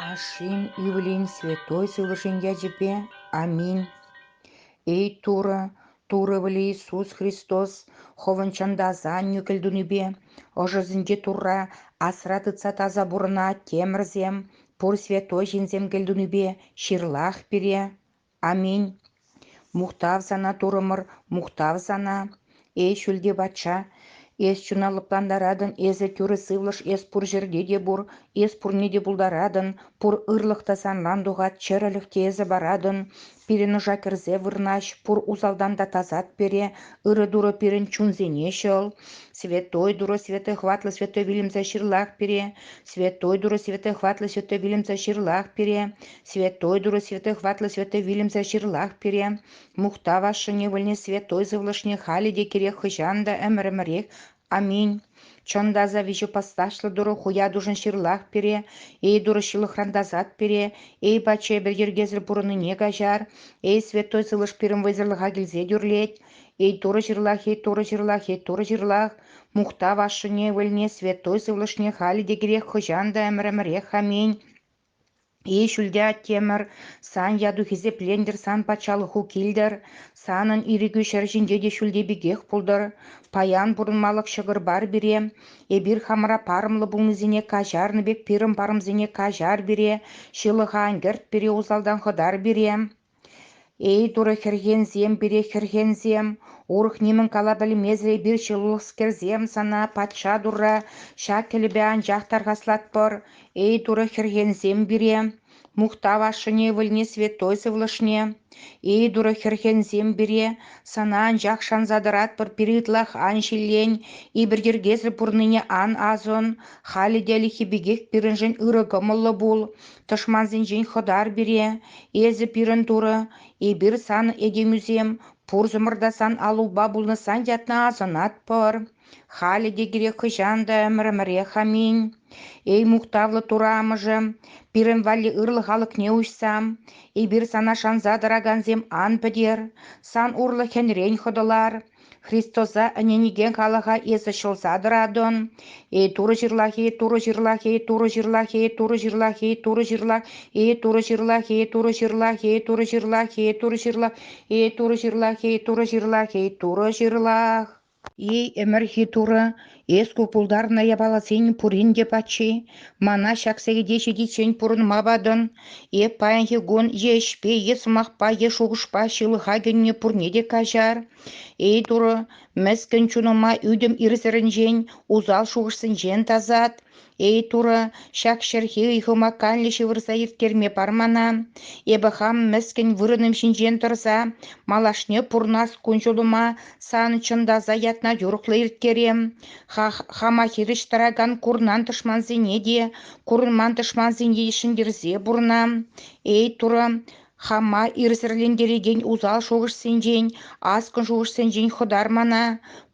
Ашшӗн ывӑлӗн святой сывлӑшӗн ячӗпе аминь. Эй Турӑ, Турӑ вӗле Иисус Христос хӑвӑн чӑнтаса аннӳ кӗлтунипе ӑшӑсенче Турра асра тытса таса пурӑна темӗрсем, пур святой ҫынсем кӗлтунипе ҫырлах пире. Аминь. Мухтав сана, Турӑмӑр, мухтав сана. Эй, ҫӳлти патша, эс чуна лӑплантаратӑн, эсӗ тӳрӗ сывлӑш, эс пур ҫӗрте те пур, эс пурне те пултаратӑн, пур ырлӑх та санран тухать, чӗрӗлӗх те эсӗ паратӑн. Пирӗн ӑша кӗрсе вырнаҫ, пур усалтан та тасат пере, ырӑ Турӑ пирӗн чунсене ҫӑл. Святой Турӑ, Святой Хватлӑ, Святой вилӗмсӗр ҫырлах пире, Святой Турӑ, Святой Хватлӑ, Святой вилӗмсӗр ҫырлах пире, Святой Турӑ святых ватлӑ святой вилӗмсӗр ҫырлах пире, мухтав ашшӗне вӗлне святой сывлӑшне халӗ те кирек хӑҫан та ӗмӗр-ӗмӗрех. Аминь. Чӑн та аса виҫӗ пасташлӑ Турӑ хуятушӑн ҫырлах пире, эй Турӑ ҫылӑхран тасат пире, эй патша эпир йӗркесӗр пурӑннине каҫар, эй святой сывлӑш пирӗн вӑйсӑрлӑха килсе тӳрлет, эй Турӑ ҫырлах, эй Турӑ ҫырлах, эй Турӑ ҫырлах, мухтав ашшӗне, вӗлне святой сывлӑшне халӗ те кирек хӑҫан та ӗмӗр-ӗмӗрех. Аминь. Эй, ҫӳлте Аттемӗр, сан яту-хисеплентӗр, сан патшалӑху килтӗр, санӑн ирӗкӳ ҫӗр ҫинче те ҫӳлте пекех пултӑр. Паян пурӑнмалӑх ҫӑкӑр бар пире, эпир хамӑра парӑмлӑ пулнисене каҫарнӑ пек пирӗн парӑмсене каҫар пире, ҫылӑха ӗнкӗрт пире усалтан хӑтар пире. Эй, Турӑ хӗрхенсем, пире хӗрхенсем, урӑх нимӗн кала пӗлмесӗр эпир ҫылӑхскерсем, сана патша Турра ҫак кӗлӗпе анчах тархаслатпӑр. Эй, Турӑ хӗрхенсем пире, мухтав ашшӗне, ывӑлне, святой сывлӑшне. Эй, Турӑ хӗрхенсем пире, сана анчах шанса тӑратпӑр пире ытлах ан ҫиллен, иберйӗркесӗр пурӑннине ан асӑн, халӗ те ӗлӗкхи пекех пирӗншӗн ырӑ кӑмӑллӑ пул. Тӑшмансенчен хӑтар пире, эсӗ пирӗн турӑ, эпир сан этемӳсем, пурсӑмӑр та сан аллупа пулнӑсан ятна асӑнатпӑр. Халӗ те кирек хӑҫан та ӗмӗр-ӗмӗрех аминь. Эй мухтавлӑ Турӑ Амӑшӗ, пирӗн валли ырлӑх алӑкне уҫса, эпир сана шанса тӑракансем ан пӗтер, сан урлӑ хӗнрен хӑтӑлар, Христоса ӗненекен халӑха эсӗ ҫӑлса тӑратӑн. Эй Турӑ ҫырлахи, Турӑ ҫырлахи, Турӑ ҫырлахи, Турӑ ҫырлахи, Турӑ ҫырлах, Эй Турӑ ҫырлахи, Турӑ ҫырлахи, Турӑ ҫырлахи, Турӑ ҫырлах, Эй Турӑ ҫырлахи, Турӑ ҫырлахи, Турӑ ҫырлах. Эй ӗмӗрхи Турӑ, Эс ку пултарнӑ япаласен пурин те паччи. Мана ҫак сехете ҫитиччен пурӑнма патӑн. Эп паянхи кун е ӗҫпе, е сӑмахпа, е шухӑшпа ҫылӑха кӗнӗ пурне те каҫар. Эй, Турӑ, мӗскӗн чунӑма ӳтӗм ирсӗрӗнчен, усал шухӑшсенчен тасат. Эй, Турӑ, ҫак ҫӗрхи ыйхӑма каллӗ ҫывӑрса ирттерме пар мана. Эпӗ хам мӗскӗн вырӑнӑм ҫинчен тӑрса малашне пурнас кун-ҫулӑма сан чӑнтаса ятна юрӑхлӑ ирттерем. Ха- хама хирӗҫ тӑракан курнан тӑшмансене те, курӑнман тӑшмансене те ҫӗнтерсе пурӑнам. Эй, Турӑ, Хама ирсӗрлентерекен усал шухӑшсенчен, аскӑн шухӑшсенчен хӑтармана,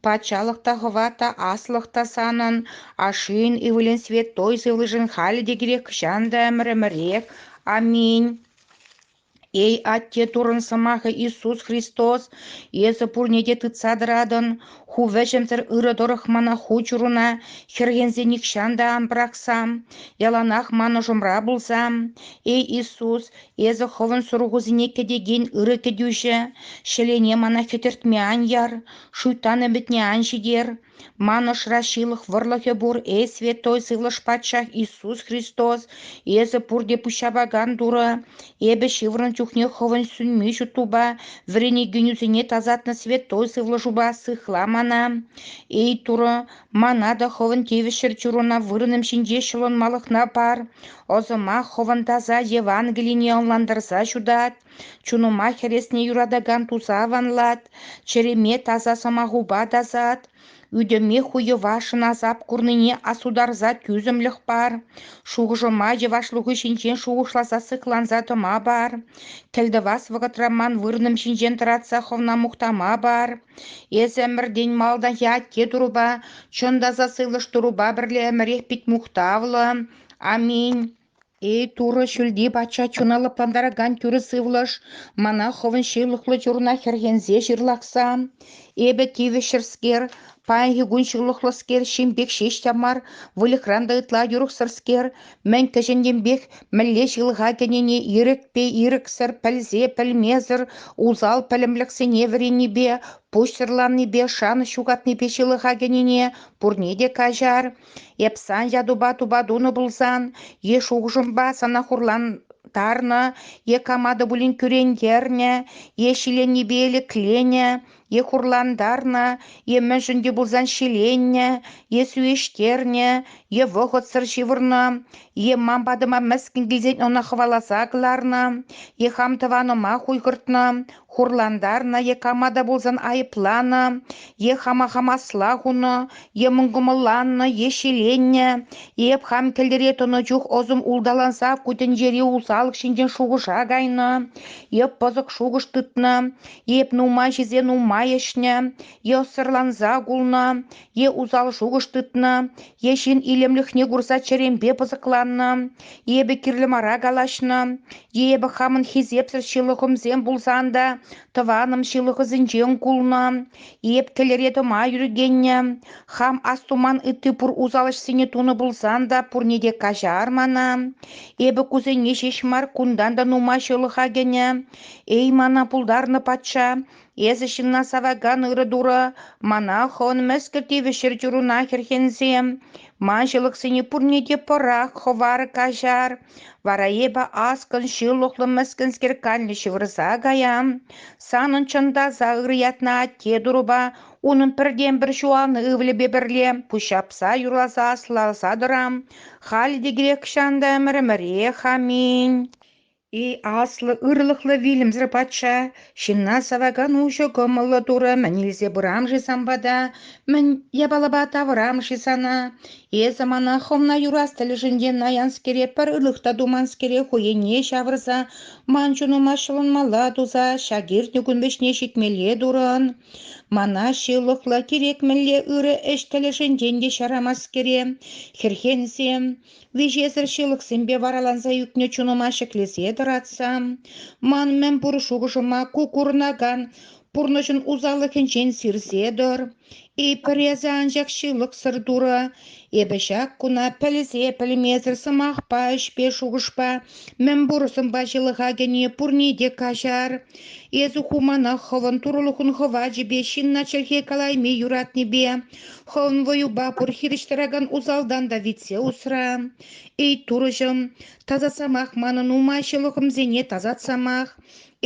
патшалӑх та хӑва та аслӑх та санӑн, ашшӗн ывӑлӗн святой сывлӑшӗн халӗ те кирек хӑҫан та ӗмӗр-ӗмӗрех. Аминь. Эй, Атте Туррӑн Сӑмахӗ Иисус Христос, эсӗ пурне те тытса тӑратӑн. Ху вӗҫӗмсӗр ырӑ тӑрӑх мана ху чуруна хӗрхенсе нихҫан та ан пӑрахсам, яланах ман ӑшӑмра пулсам. Эй, Иисус, Эсӗ хӑвӑн сурӑхусене кӗтекен ырӑ кӗтӳҫӗ, ҫӗлене мана хӗтӗртме ан яр, шуйттан ӗмӗтне ан ҫитер. Ман ӑшра ҫылӑх вӑрлӑхӗ пур, эй Святой Сывлӑш Патшах Иисус Христос, эсӗ пурте пуҫҫапакан Турӑ. Эпӗ ҫывӑрнӑ чухне хӑвӑн сӳнми ҫуттупа, вӗренекенӳсене тасатнӑ Святой Сывлӑшупа сыхла мана. Эй Турӑ, Мана та хӑвӑн тивӗҫсӗр чуруна вырӑнӑм ҫинче ҫӑлӑнмалӑхна пар, ӑсӑмах хӑвӑн таса Евангелине ӑнлантарса ҫутат, чунӑма хӗресне юратакан туса аванлат, чӗреме таса сӑмахупа тасат, ӳтӗме хуйӑва шӑнасап курнине асутарса тӳсӗмлӗх пар, шухӑшӑма йӑвашлӑху ҫинчен шухӑшласа сыхланса тӑма пар, кӗлтӑвас вӑхӑтра ман вырӑнӑм ҫинчен тӑратса хӑвна мухтама пар, Эсӗ ӗмӗртен малтанхи атте турӑпа, чӑн та сасӑлӑш турӑпа пӗрле ӗмӗрех пит мухтавлӑ, аминь. Эй, Турӑ ҫӳлти Патша чуна лӑплантаракан тӳрӗ сывлӑш, мана хӑвӑн ҫывлӑхлӑ чуруна хӗрхенсе ҫырлахса, эпӗ тивӗҫҫӗрскер, паянхи кун ҫывлӑхлӑскер, ҫын пек ҫеҫ те мар, выльӑхран та ытла юрӑхсӑрскер, мӗн кӗҫӗннипех мӗнле ҫылӑха кӗнине ирӗкпе ирӗксӗр пӗлсе пӗлмесӗр усал пӗлӗмлӗхсене вӗреннипе, пуҫсӑрланнипе, шанӑҫ ҫухатнипе ҫылӑха кӗнине пурне те каҫар. Эп сан ятупа тупа тунӑ пулсан, е шухӑшӑмпа сана хурлантарнӑ, е кама та пулин кӳрентернӗ, е ҫиленнипе лекленӗ, е хурлантарнӑ, е мӗншӗн те пулсан ҫиленнӗ, е сӳвеҫтернӗ, е вӑхӑтсӑр ҫывӑрнӑ, е ман патӑма мӗскӗн килсен ӑна хӑваласа кӑларнӑ, е хам тӑванӑма хуйхӑртнӑ, хурлантарнӑ, е кама та пулсан айӑпланӑ, е хама хам асла хунӑ, е мӑнкӑмӑлланнӑ, е ҫиленнӗ, е эп хам кӗлтӗре тӑнӑ чух ӑсӑм улталанса ку тӗнчери усал ҫинчен шухӑша кайнӑ, е пӑсӑк шухӑш тытнӑ, Эп нумай ҫисе нумай ӗҫнӗ, е ӑссӑрланса кулнӑ, е усал шухӑш тытнӑ, е ҫын илемлӗхне курса чӗремпе пысӑкланнӑ, эпӗ кирлӗ мара калаҫнӑ, е эпӗ хамӑн хисепсӗр ҫылӑхӑмсем пулсан та тӑванӑм ҫылӑхӑсенчен кулнӑ, эп тӗлӗре тӑма ҫӳрекеннӗ, хам астуман ытти пур усал ӗҫсене тунӑ пулсан та пурне те каҫар мана, эпӗ кусене ҫеҫ мар, кунтан та нумай ҫылӑха кӗнӗ, Эй, мана пултарнӑ патша, эсӗ ҫынна савакан ырӑ турӑ, мана хӑвӑн мӗскӗл тивӗҫ чӗрчунна хӗрхенсем, ман ҫылӑхсене пурне те пӑрах, хӑвар, каҫар, вара эпӗ аскӑн, ҫылӑхлӑ, мӗскӗнскер канлӗ ҫывӑрса каям. Санӑн чӑн таса ырӑ ятна атте турӑпа, унӑн пӗртен-пӗр ҫуалнӑ ывӑлӗпе пӗрле пуҫҫапса, юрласа, аслаласа тӑрам. Халӗ те кирек чан та ӗмӗр-ӗмӗрех. Аминь. И аслӑ ырлӑхлӑ вилӗмсӗр патша, ҫынна савакан уҫӑ кӑмӑллӑ турӑ мӗн илсе пырам-ши сан пата, мӗн япалапа тавӑрам-ши сана? Эсӗ мана хӑвна юрас тӗлӗшӗнчен наянскере пӗр ырлӑх та туманскере хӑйӗнне ҫавӑрса, ман чунӑма ҫӑлӑнмалла туса ҫак иртнӗ кун вӗҫне ҫитмелле турӑн. Мана ҫылӑхлӑ, кирек мӗнле ырӑ ӗҫ тӗлӗшӗнчен те ҫарамаскере, хӗрхенсем, Виҫесӗр ҫылӑхсемпе вараланса ӳкнӗ чунӑма ҫӗклесе тӑратса, ман мӗнпур шухӑшӑма ку курӑнакан пурнӑҫӑн усаллӑхӗнчен сирсе тӑр. Эпир эсӗ анчах ҫылӑхсӑр Турӑ, эпӗ ҫак куна пӗлсе-пӗлмесӗр сӑмахпа, ӗҫпе, шухӑшпа, мӗнпур сӑнпа ҫылӑха кӗни пурне те каҫар. Эсӗ ху мана хӑвӑн Турӑлӑхун хӑвачӗпе ҫынна чӗлхе калайми юратнипе, Хӑвӑн вӑюпа пур хирӗҫ тӑракан усалтан та витсе усра. Эй, Турӑҫӑм, тасатсамах манӑн умаҫӑлӑхӑмсене тасатсамах.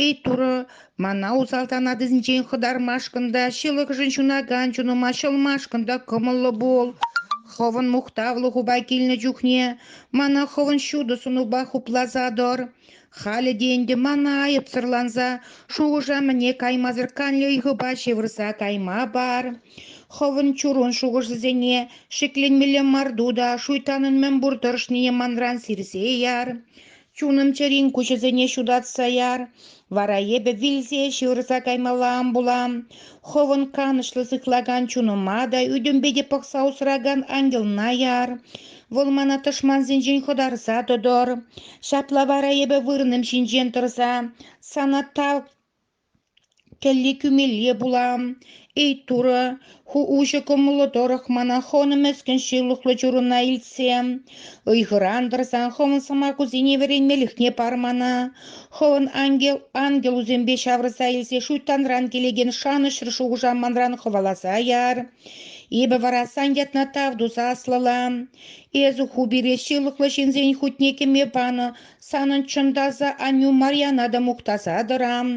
Эй, Турӑ, мана усалтан атисенчен хӑтармашкӑн та, ҫылӑхшӑн ҫунакан чунӑма ҫӑлмашкӑн та кӑмӑллӑ пул. Хӑвӑн мухтавлӑ хупа килнӗ чухне мана хӑвӑн ҫутӑ сунупа хупласа тӑр. Халӗ те ӗнтӗ мана айӑпсӑрланса, шухӑша-мӗне каймасӑр канлӗ ыйхӑпа ҫывӑрса кайма пар. Хӑвӑн чурун шухӑшӗсене ҫӗкленмелле марту та шуйттанӑн мӗнпур тӑрӑшнине манран сирсе яр. Чунӑм чӗрин куҫӗсене ҫутатса яр. Вара эпӗ вилсе ҫывӑрса каймалла ан пулам. Хӑвӑн канӑҫлӑ сыхлакан чунӑма та, ӳтӗмпе те пӑхса усракан ангелна яр. Вӑл мана тӑшмансенчен хӑтарса тӑтӑр. Ҫапла вара эпӗ вырӑнӑм ҫинчен тӑрса сана тав кӗлли кӳмелле пулам. Эй, Турӑ, ху уҫӑ кӑмӑллӑ тӑрӑх мана хӑнӑ мӗскӗн ҫылӑхлӑ чурӑна илтсе, ыйхӑран тӑрсан хӑвӑн сӑмахусене вӗренмелӗхне пар мана. Хӑвӑн ангел ангелусемпе ҫавӑрса илсе шуйттанран килекен шанӑҫсӑр шухӑша манран хӑваласа яр. Эпӗ вара сан ятна тав туса аслӑла. Эсӗ ху пире ҫылӑхлӑ ҫынсен хутне кӗме панӑ санӑн чӑн таса аннӳ Марьяна та мухтаса тӑрам.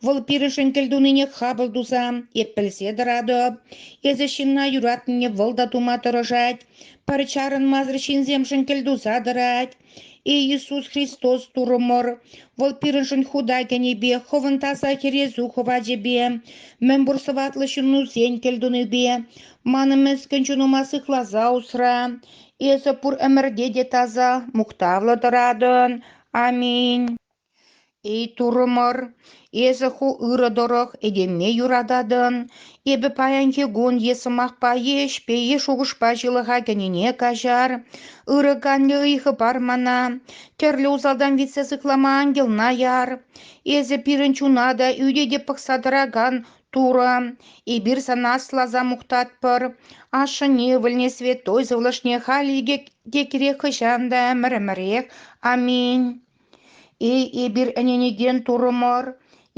Вӑл пирӗншӗн кӗлтунине хапӑл туса эп пӗлсе тӑратӑп. Эсӗ ҫынна юратнине вӑл та тума тӑрӑшать. Пӗр чарӑнмасӑр ҫынсемшӗн кӗлтуса тӑрать. Эй Иисус Христос Турӑмӑр, Вӑл пирӗншӗн хута кӗнипе, Хӑвӑн таса Хӗресу хӑвачӗпе, мӗнпур сӑваплӑ ҫыннусен кӗлтунипе, манӑн мӗскӗн чунӑма сыхласа усра. Эсӗ пур ӗмӗрте те таса, мухтавлӑ тӑратӑн. Аминь. Эй, турӑмӑр, эсӗ ху ырӑ тӑрӑх этеме юрататӑн, эпӗ паянхи кун е сӑмахпа, е ӗҫпе, е шухӑшпа ҫылӑха кӗнине каҫар. Ырӑ канлӗ ыйхӑ пар мана, тӗрлӗ усалтан витсе сыхлама ангелна яр. Эсӗ пирӗн чуна та, ӳте те пӑхса тӑракан Турӑ, эпир сана асласа мухтатпӑр. Ашшӗн ывӑлне святой сывлӑшне халь икӗ те кирек хӑҫан та ӗмӗр-ӗмӗрех. Аминь. Эй, эпир ӗненекен турӑмӑр,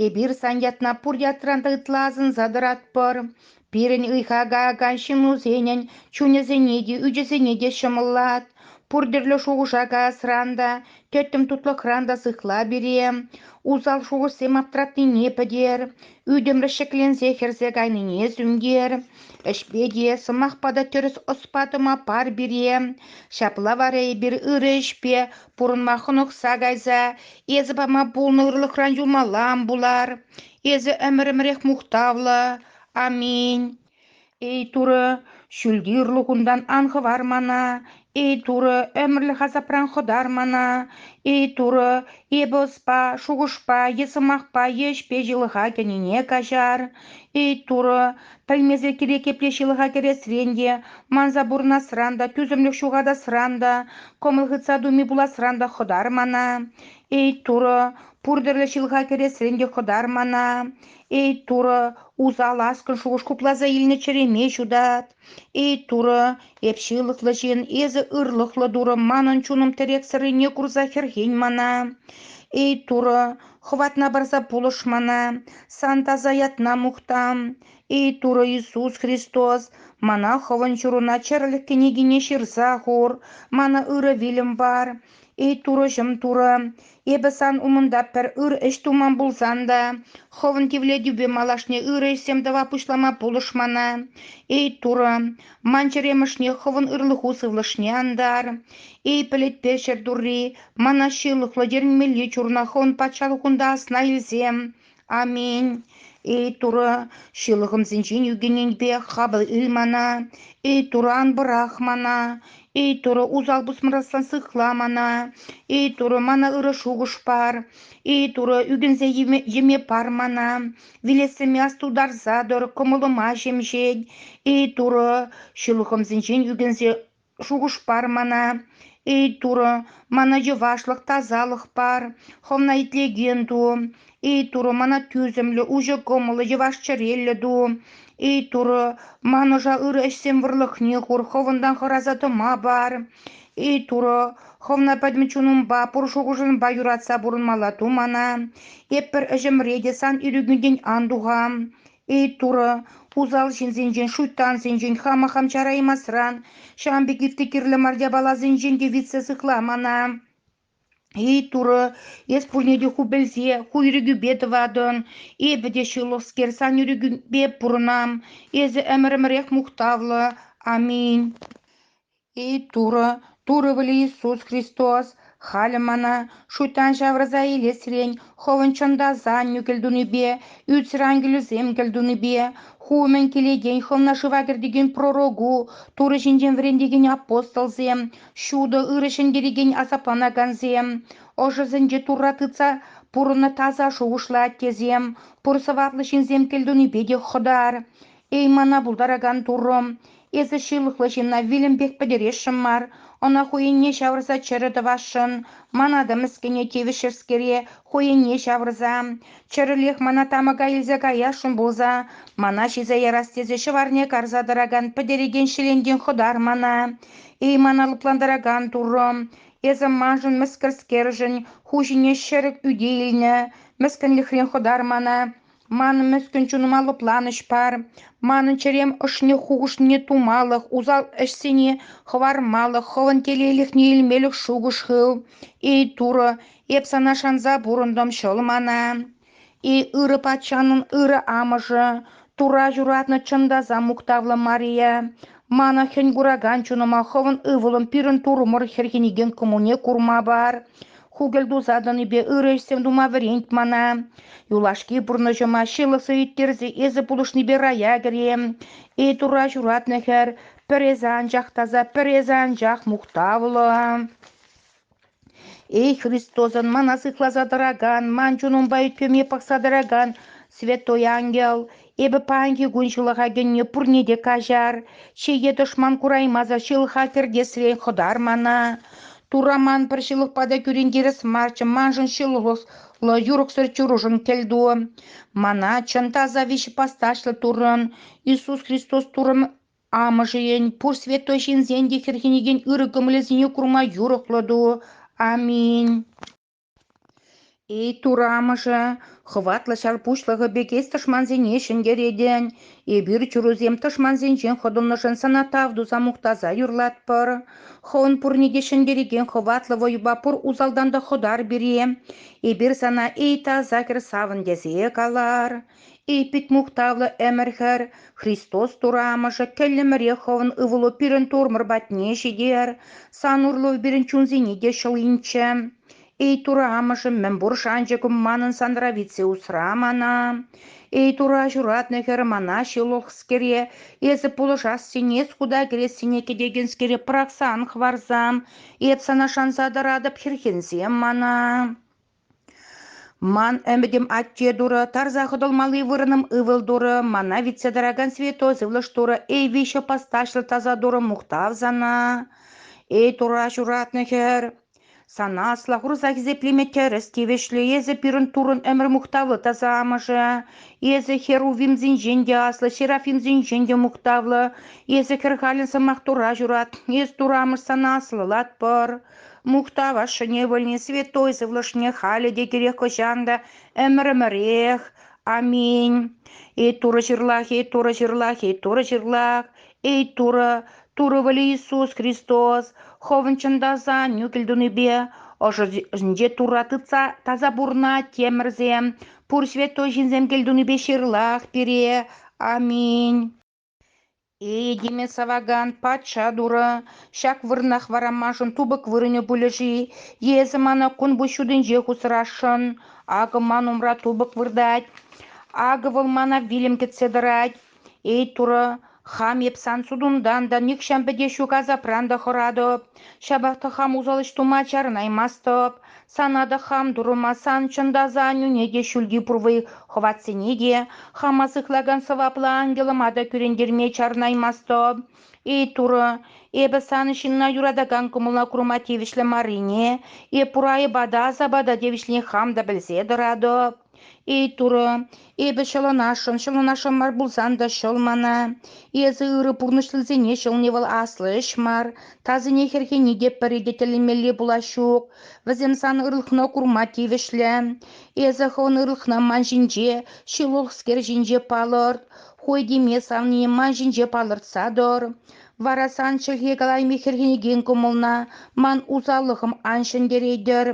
эпир сан ятна пур ятран та ытла асӑнса тӑратпӑр. Пирӗн ыйха каякан ҫыннусенӗн чунӗсене те, ӳчӗсене те ҫӑмӑллат. Пур тӗрлӗ шухӑша каясран та, тӗттӗм тутлӑхран та сыхла пире. Усал шухӑшсем аптратнине пӗтер, ӳтӗмлӗх ҫӗкленсе хӗрсе кайнине сӳнтер. Ӗҫпе те, сӑмахпа та тӗрӗс ӑспа тӑма пар пире. Ҫапла вара эпир ырӑ ӗҫпе Пурӑнма хӑнӑхса кайса эсӗ пама пулнӑ ырлӑхран юлмаллам пулар. Эсӗ ӗмӗр-ӗмӗрех мухтавлӑ. Аминь. Эй Турӑ, ҫӳлти ырлӑхунтан ан хӑвар мана. Эй Турӑ, ӗмӗрлӗх асапран хӑтар мана. Эй Турӑ, эпӗ ӑспа, шухӑшпа е сӑмахпа е ӗҫпе ҫылӑха кӗнине каҫар. Эй Турӑ, Пӗлмесӗр кирек епле ҫылӑха кӗресрен те, манса пурӑнасран та, тӳсӗмлӗх ҫухатасран та, кӑмӑл хытса туми пуласран та хӑтар мана. Эй, Турӑ, пур тӗрлӗ ҫылӑха кӗресрен те хӑтар мана. Эй, Турӑ, усал аскӑн шухӑш хупласа илнӗ чӗреме ҫутат. Эй, Турӑ, Эп ҫылӑхлӑ ҫын, эсӗ ырлӑхлӑ Турӑ, манӑн чунӑм тӗрексӗррине курса хӗрхен мана. Эй, Турӑ, хӑватна парса пулӑш мана, сан таса ятна мухтам. Эй, Турӑ Иисус Христос, мана Хӑвӑн ҫуруна чӗрӗлӗх кӗнекине ҫырса хур, мана ырӑ вилӗм пар. Эй, турӑҫӑм, турӑ, эпӗ сан умӑнта пӗр ыр ӗҫ туман пулсан та хӑвӑн тивлетӳпе малашне ырӑ ӗҫсем тӑва пуҫлама пулӑшмана. Эй, турӑ, ман чӗремӗшне хӑвӑн ырлӑху сывлӑшне антар. Эй, пӗлӗтпе ҫӗр турри, мана ҫылӑхлӑ терӗнмелли чурна хӑвӑн патшалӑхунта асна илсем. Аминь. Эй Турӑ, ҫылӑхӑмсенчен ӳкӗненпе хапӑл ил мана, эй Турран пӑрах мана, эй Турӑ усал пусмӑрасран сыхла мана, эй Турӑ мана ырӑ шухӑш пар, эй Турӑ ӳкӗнсе йӗме пар мана, вилессӗме астутарса тӑр, кӑмӑлӑма ҫемҫет, эй Турӑ ҫылӑхӑмсенчен ӳкӗнсе Шухӑш пар мана, эй Турӑ, мана йӑвашлӑх, тасалӑх пар, хӑвна итлекен ту. Эй Турӑ, мана тӳсӗмлӗ, уҫӑ кӑмӑллӑ, йӑваш-чӗреллӗ ту. Эй Турӑ, ман ӑша ырӑ ӗҫсен вӑрлӑхне хур, хӑвӑнтан хӑраса тӑма пар. Эй Турӑ, хӑвна пӗтӗм чунӑмпа, пур шухӑшӑмпа юратса пурӑнмалла ту мана. Эп пӗр ӗҫӗмре те сан ирӗкӳнтен ан тухам. Эй, Турӑ, усал ҫынсенчен, шуйттансенчен хама хам чараймасран, ҫавӑн пек ытти кирлӗ мар япаласенчен те витсе сыхла мана. Эй, Турӑ, эс пурне те ху пӗлсе, ху ирӗкӳпе тӑватӑн. Эпӗ те ҫылӑхскер, сан ирӗкӳпе пурӑнам. Эсӗ ӗмӗр-ӗмӗрех мухтавлӑ. Аминь. И Турӑ, Турӑ вӗли Иисус Христос, халӗ мана шуйттан ҫавӑрса илесрен Хӑвӑн чӑнтасан нӳкӗлтунипе, ӳтсӗр ангелӗсем кӗлтунипе, ху умӗн килекен Хӑвна шыва кӗртекен пророку, Турӑ ҫинчен вӗрентекен апостолсем, ҫутӑ ырӑ ҫӗнтерекен асапланакансем, ӑшӑсенче Турра тытса пурӑннӑ таса шухӑшлӑ аттесем, пур сӑваплӑ ҫынсем кӗлтунипе те хӑтар. Эй, мана пултаракан Турӑ! Эсӗ ҫылӑхлӑ ҫынна вилӗмпех пӗтересшӗн мар. Ӑна хӑйӗнне ҫавӑрса чӗрӗ тӑвасшӑн. Мана та мӗскӗне тивӗҫрӗскере хӑйӗнне ҫавӑрса. Чӗрӗлех мана тамӑка илсе каясшӑн пулса, мана ҫисе ярас тесе ҫӑварне карса тӑракан пӗтерекен ҫӗлентен хӑтар мана. Эй, мана лӑплантаракан Турӑ! Эсӗ маншӑн мӗскӗрскершӗн ху ҫине ҫӗрӗк ӳте илнӗ. Мӗскӗнлӗхрен хӑтар мана. Ман мӗскӗн чунӑма лӑпланӑҫ пар, манӑн чӗрем ӑшне хухӑшне тумалӑх, усал ӗҫсене хӑвармалӑх, хӑвӑн телейлӗхне илмелӗх шухӑш хыв. Эй, Турӑ, эп сана шанса пурӑнтӑм, ҫӑл мана. Эй, ырӑ патшанӑн ырӑ амӑшӗ, Тура ҫуратнӑ чӑн таса мухтавлӑ Мария, мана хӗн куракан чунӑма хӑвӑн ывӑлӑм пирӗн Турӑмӑр хӗрхенекен кӑмӑлне курма пар. Хукӑль туса тӑнипе ырӑ ӗҫсем тума вӗрент мана. Юлашки пурнӑҫӑма ҫылӑхсӑр ирттерсе эсӗ пулӑшнипе рая кӗрем. Эй Турра ҫуратнӑ хӗр, пӗр эсӗ анчах таса, пӗр эсӗ анчах мухтавлӑ. Эй Христосӑн мана сыхласа тӑракан, ман чунӑмпа ӳт-пӗвӗме пӑхса тӑракан Святой Ангел, Эпӗ паянхи кун ҫылӑха кӗнӗ пурне те каҫар, чее тӑшман кураймасӑр ҫылӑха кӗртесрен хӑтар мана. Турра ман пӗр ҫылӑхпа та кӳрентерес марччӗ, маншӑн ҫылӑхлӑ, юрӑхсӑр чурушӑн кӗлту. Мана чӑн таса виҫӗ пасташлӑ Туррӑн, Иисус Христос Туррӑн Амӑшӗн, пур святой ҫынсен те хӗрхенекен ырӑ кӑмӑлӗсене курма юрӑхлӑ ту. Аминь. Ит урамӑшӗ, хӑватлӑ ҫар пуҫлӑхӗ пекех тӑшмансене ҫӗнтеретӗн, эпир чурусем тӑшмансенчен хӑтӑлнӑшӑн сана тав туса мухтаса юрлатпӑр. Хӑвӑн пурне те ҫӗнтерекен хӑватлӑ вӑйӑпа пур усалтан та хӑтар пире. Эпир сана эй таса хӗр савӑн тесе калар. И пит мухтавлӑ ӗмӗр-хӗр, Христос Турамӑшӗ кӗллӗмӗрех хӑвӑн ывӑлу пирӗн турмӑр патне ҫитер, сан урлӑ пирӗн чунсене те ҫӑл инчӗ. Эй Турамӑшӑм, мӗнпур шанчӑкӑм манӑн санра витсе усра мана. Эй Тура ҫуратнӑ хӗр, мана ҫылӑхскере, эсӗ пулӑшассине, скута кӗрессине кӗтекенскере пӑрахсан хӑварсам, эп сана шанса тӑратӑп, хӗрхенсем мана. Ман ӗмӗтӗм атте турӑ, тарса хӑтӑлмалли вырӑнӑм ывӑл турӑ, мана витсе тӑракан святой сывлӑш турӑ, эй виҫӗ постаҫлӑ таса турӑ, мухтав сана, эй Турра ҫуратнӑ хӗр. Сана асла хурса хисеплеме тӗрӗс тивӗҫлӗ. Эсӗ пирӗн Туррӑн ӗмӗр мухтавлӑ таса амӑшӗ. Эсӗ херувимсенчен те аслӑ, серафимсенчен те мухтавлӑ. Эсӗ хӗр халӗн сӑмах Турра ҫурат. Эс Турра амӑш сана аслӑлатпӑр. Мухтав ашшӗне, вӗлне святой сывлӑшне халӗ те кирек хӑҫан та ӗмӗр-ӗмӗрех. Аминь. Эй Турӑ ҫырлах, эй Турӑ ҫырлах, эй Турӑ ҫырлах, эй Турӑ, Турӑ вӗле Иисус Христос, хӑвӑн чӑн та сан нӳкӗл тунипе ӑшӑ ӑшӗнче Турра тытса таса пурӑнать темӗрсем, пур святой ҫынсем кӗлтунипе ҫырлах пире. Аминь. Этеме савакан патша турӑ ҫак вырӑнах варамашӑн тупӑк вырӑнӗ пулӗ-ши? Эсӗ мана кун пуҫ ҫутинче хусрасшӑн. Акӑ ман умра тупӑк выртать. Акӑ вӑл мана вилӗм кӗтсе тӑрать. Эй, турӑ, хам эп сан сутунтан та, нихҫан пӗтеҫ ҫук асапран та хӑратӑп. Ҫапах та хам усал ӗҫ тума чарӑнаймастӑп. Сана та хам турӑмасан, чӑн та заанюне те, ҫӳлти пурвӑй хӑватсене те, хама сыхлакан сӑваплӑ ангелӑма та кӳрентерме чарӑнаймастӑп. Эй, Турӑ, эпӗ сан ҫынна юратакан кӑмӑла курма тивӗҫлӗ маррине, эп пур айӑпа та асапа та тивӗҫлине хам та пӗлсе тӑратӑп. Эй, Турӑ, эпӗ ҫӑлӑнасшӑн, ҫӑлӑнасшӑн мар пулсан та ҫӑл мана. Эсӗ ырӑ пурнӑҫлисене ҫӑлни вӑл аслӑ ӗҫ мар. Тасине хӗрхени те пӗри те тӗлӗнмелли пулас ҫук. Вӗсем сан ырлӑхна курма тивӗҫлӗ. Эсӗ хӑвӑн ырлӑхна ман ҫинче, ҫылӑхскер ҫинче палӑрт. Хой теме савнине ман ҫинче палӑртса тӑр. Вара сан чӗлхе калайми хӗрхенекен кӑмӑлна ман усаллӑхӑм ан ҫӗнтеретӗр.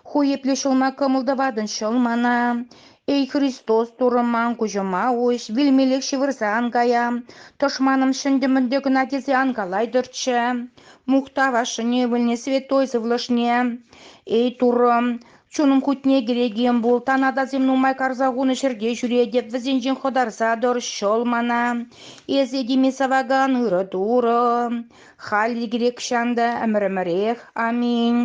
Ху епле ҫулма кӑмӑл тӑватӑн ҫӑл мана? Эй, Христос, Турӑ ман куҫӑма уҫ, вилмеллех ҫывӑрса ан кая. Тӑшманӑм ҫӗнтӗ-мӗнтӗ кӑна тесе ан калайтӑрччӗ. Мухтав ашшӗне ывӑлне святой сывлӑшне. Эй, Туррӑм, чунӑм хутне кӗрекем пул, танатасем нумай карса хунӑ ҫӗрте ҫӳретӗп, вӗсенчен хӑтарса тӑр ҫӑл мана. Эсӗ теме савакан ырӑ Турӑ. Халӗ грекҫан та ӗмӗр-ӗмӗрех аминь.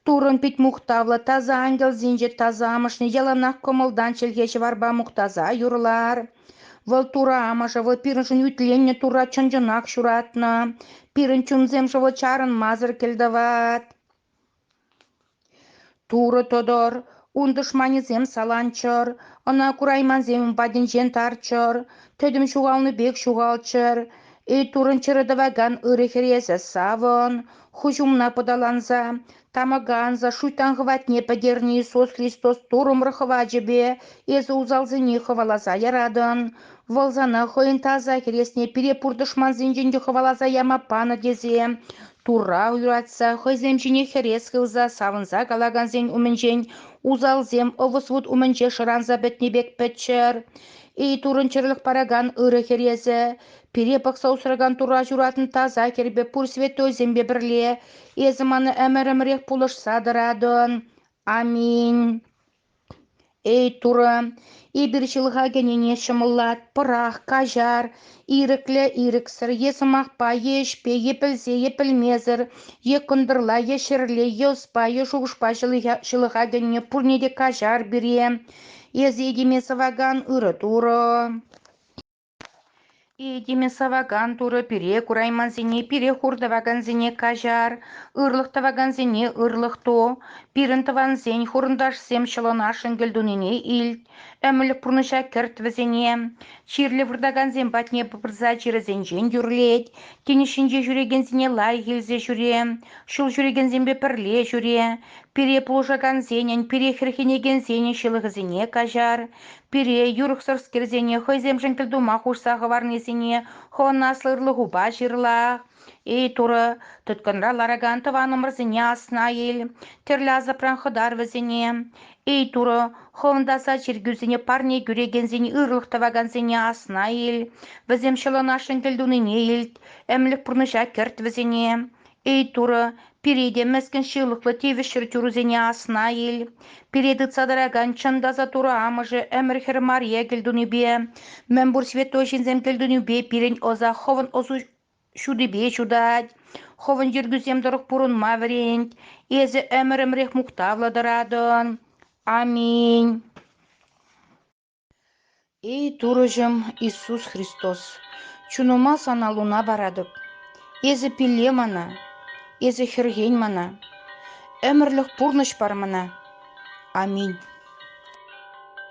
Туррӑн пит мухтавлӑ таса ангелсенче таса амӑшне яланах кӑмӑлтан чӗлхе ҫӑварпа мухтаса юрлар. Вӑл Турӑ Амӑшӗ, вӑл пирӗншӗн ӳтленнӗ Турра чӑн-чӑнах ҫуратнӑ. Пирӗн чунсем шӑл чарӑнмасӑр кӗлтӑват. Турӑ тӑтӑр, ун тӑшманӗсем саланччӑр, ӑна кураймансем ун патӗнчен тарччӑр, тӗтӗм ҫухалнӑ пек ҫухалччӑр, Ильтурӑн чӗрӗ тӑвакан ырӑ хӗресӗ савӑн, хӑҫ умна пӑталанса, тамӑка анса шуйттан хӑватне пӗтернӗ Иисус Христос турӑмӑр хӑвачӗпе эсӗ усалсене хӑваласа яратӑн, вӑл сана хӑйӗн таса хӗресне пире пур тӑшмансенчен те хӑваласа яма панӑ тесе, Турра юратса, хӑйсем ҫине хӗрес хывса савӑнса калакансен умӗнчен усалсем ӑвӑс-вут умӗнче шӑранса пӗтнӗ пек пӗччӗр. Эй, турӑнчӑрлӑх паракан ырӑ хӗресӗ, пире пӑхса усракан Турра ҫуратнӑ таса хӗрпе пур святойсемпе пӗрле эсӗ мана ӗмӗр-ӗмӗрех пулӑшса тӑратӑн. Аминь. Эй, Турӑ, эпир ҫылӑха кӗнине ҫӑмӑллатпӑрах, каҫар, ирӗклӗ-ирӗксӗр е сӑмахпа е ӗҫпе е пӗлсе е пӗлмесӗр е кӑнтӑрла е ҫӗрле е ӑспа е шухӑшпа ҫылӑха кӗнине пурне те каҫар пире. Эс этеме сӑвакан ырӑ Турӑ. Этеме савакан Турӑ пире кураймансене пире хур тӑвакансене каҫар, ырлӑх тӑвакансене ырлӑх ту, пирӗн тӑвансен, хурӑнташсем ҫӑлӑнашшӑн кӗлтунине илт, ӗмӗлӗх пурнӑҫа кӗрт вӗсене. Чирлӗ выртакансем патне пырса чирӗсенчен тӳрлет, тинӗс ҫинче ҫӳрекенсене лайӑх илсе ҫӳре, ҫул ҫӳрекенсемпе пӗрле ҫӳре, пире пулӑшакансенӗн, пире хӗрхенекенсенӗн ҫылӑхӗсене каҫар, пире юрӑхсӑрскерсене хӑйсемшӗн пӗр тума хушса хӑварнисене хӑвӑн аслӑ ырлӑхупа ҫырла. Эй, Турӑ, тыткӑнра ларакан тӑванӑмӑрсене асна ил, тӗрлӗ асапран хӑтар вӗсене. Эй, Турӑ, хӑвӑн таса чиркӳсене парне кӳрекенсен ырлӑх тӑвакансене асна ил, вӗсем ҫӑлӑнашшӑн кӗлтунине илт, ӗмлӗх пурнӑҫа кӗрт вӗсене. Эй, Турӑ, пире те мӗскӗн ҫылӑхлӑ тивӗҫсӗр тӳрӗсене асна ил. Пире тытса тӑракан чӑн таса Турӑ Амӑшӗ ӗмӗр-хӗр мария кӗлтунипе, мӗнпур святой ҫынсем кӗлтунипе пирӗн ӑса хӑвӑн ӑсу ҫутипе ҫутать, хӑвӑн йӗркӳсем тӑрӑх пурӑнма вӗрент. Эсӗ ӗмӗрӗмрех мухтавлӑ тӑратӑн. Аминь. Эй, Турӑҫӑм Иисус Христос, чунӑма Сана луна паратӑп. Эсӗ пилле мана, Эсӗ хӗрхен мана, ӗмӗрлӗх пурнӑҫ пар мана. Аминь.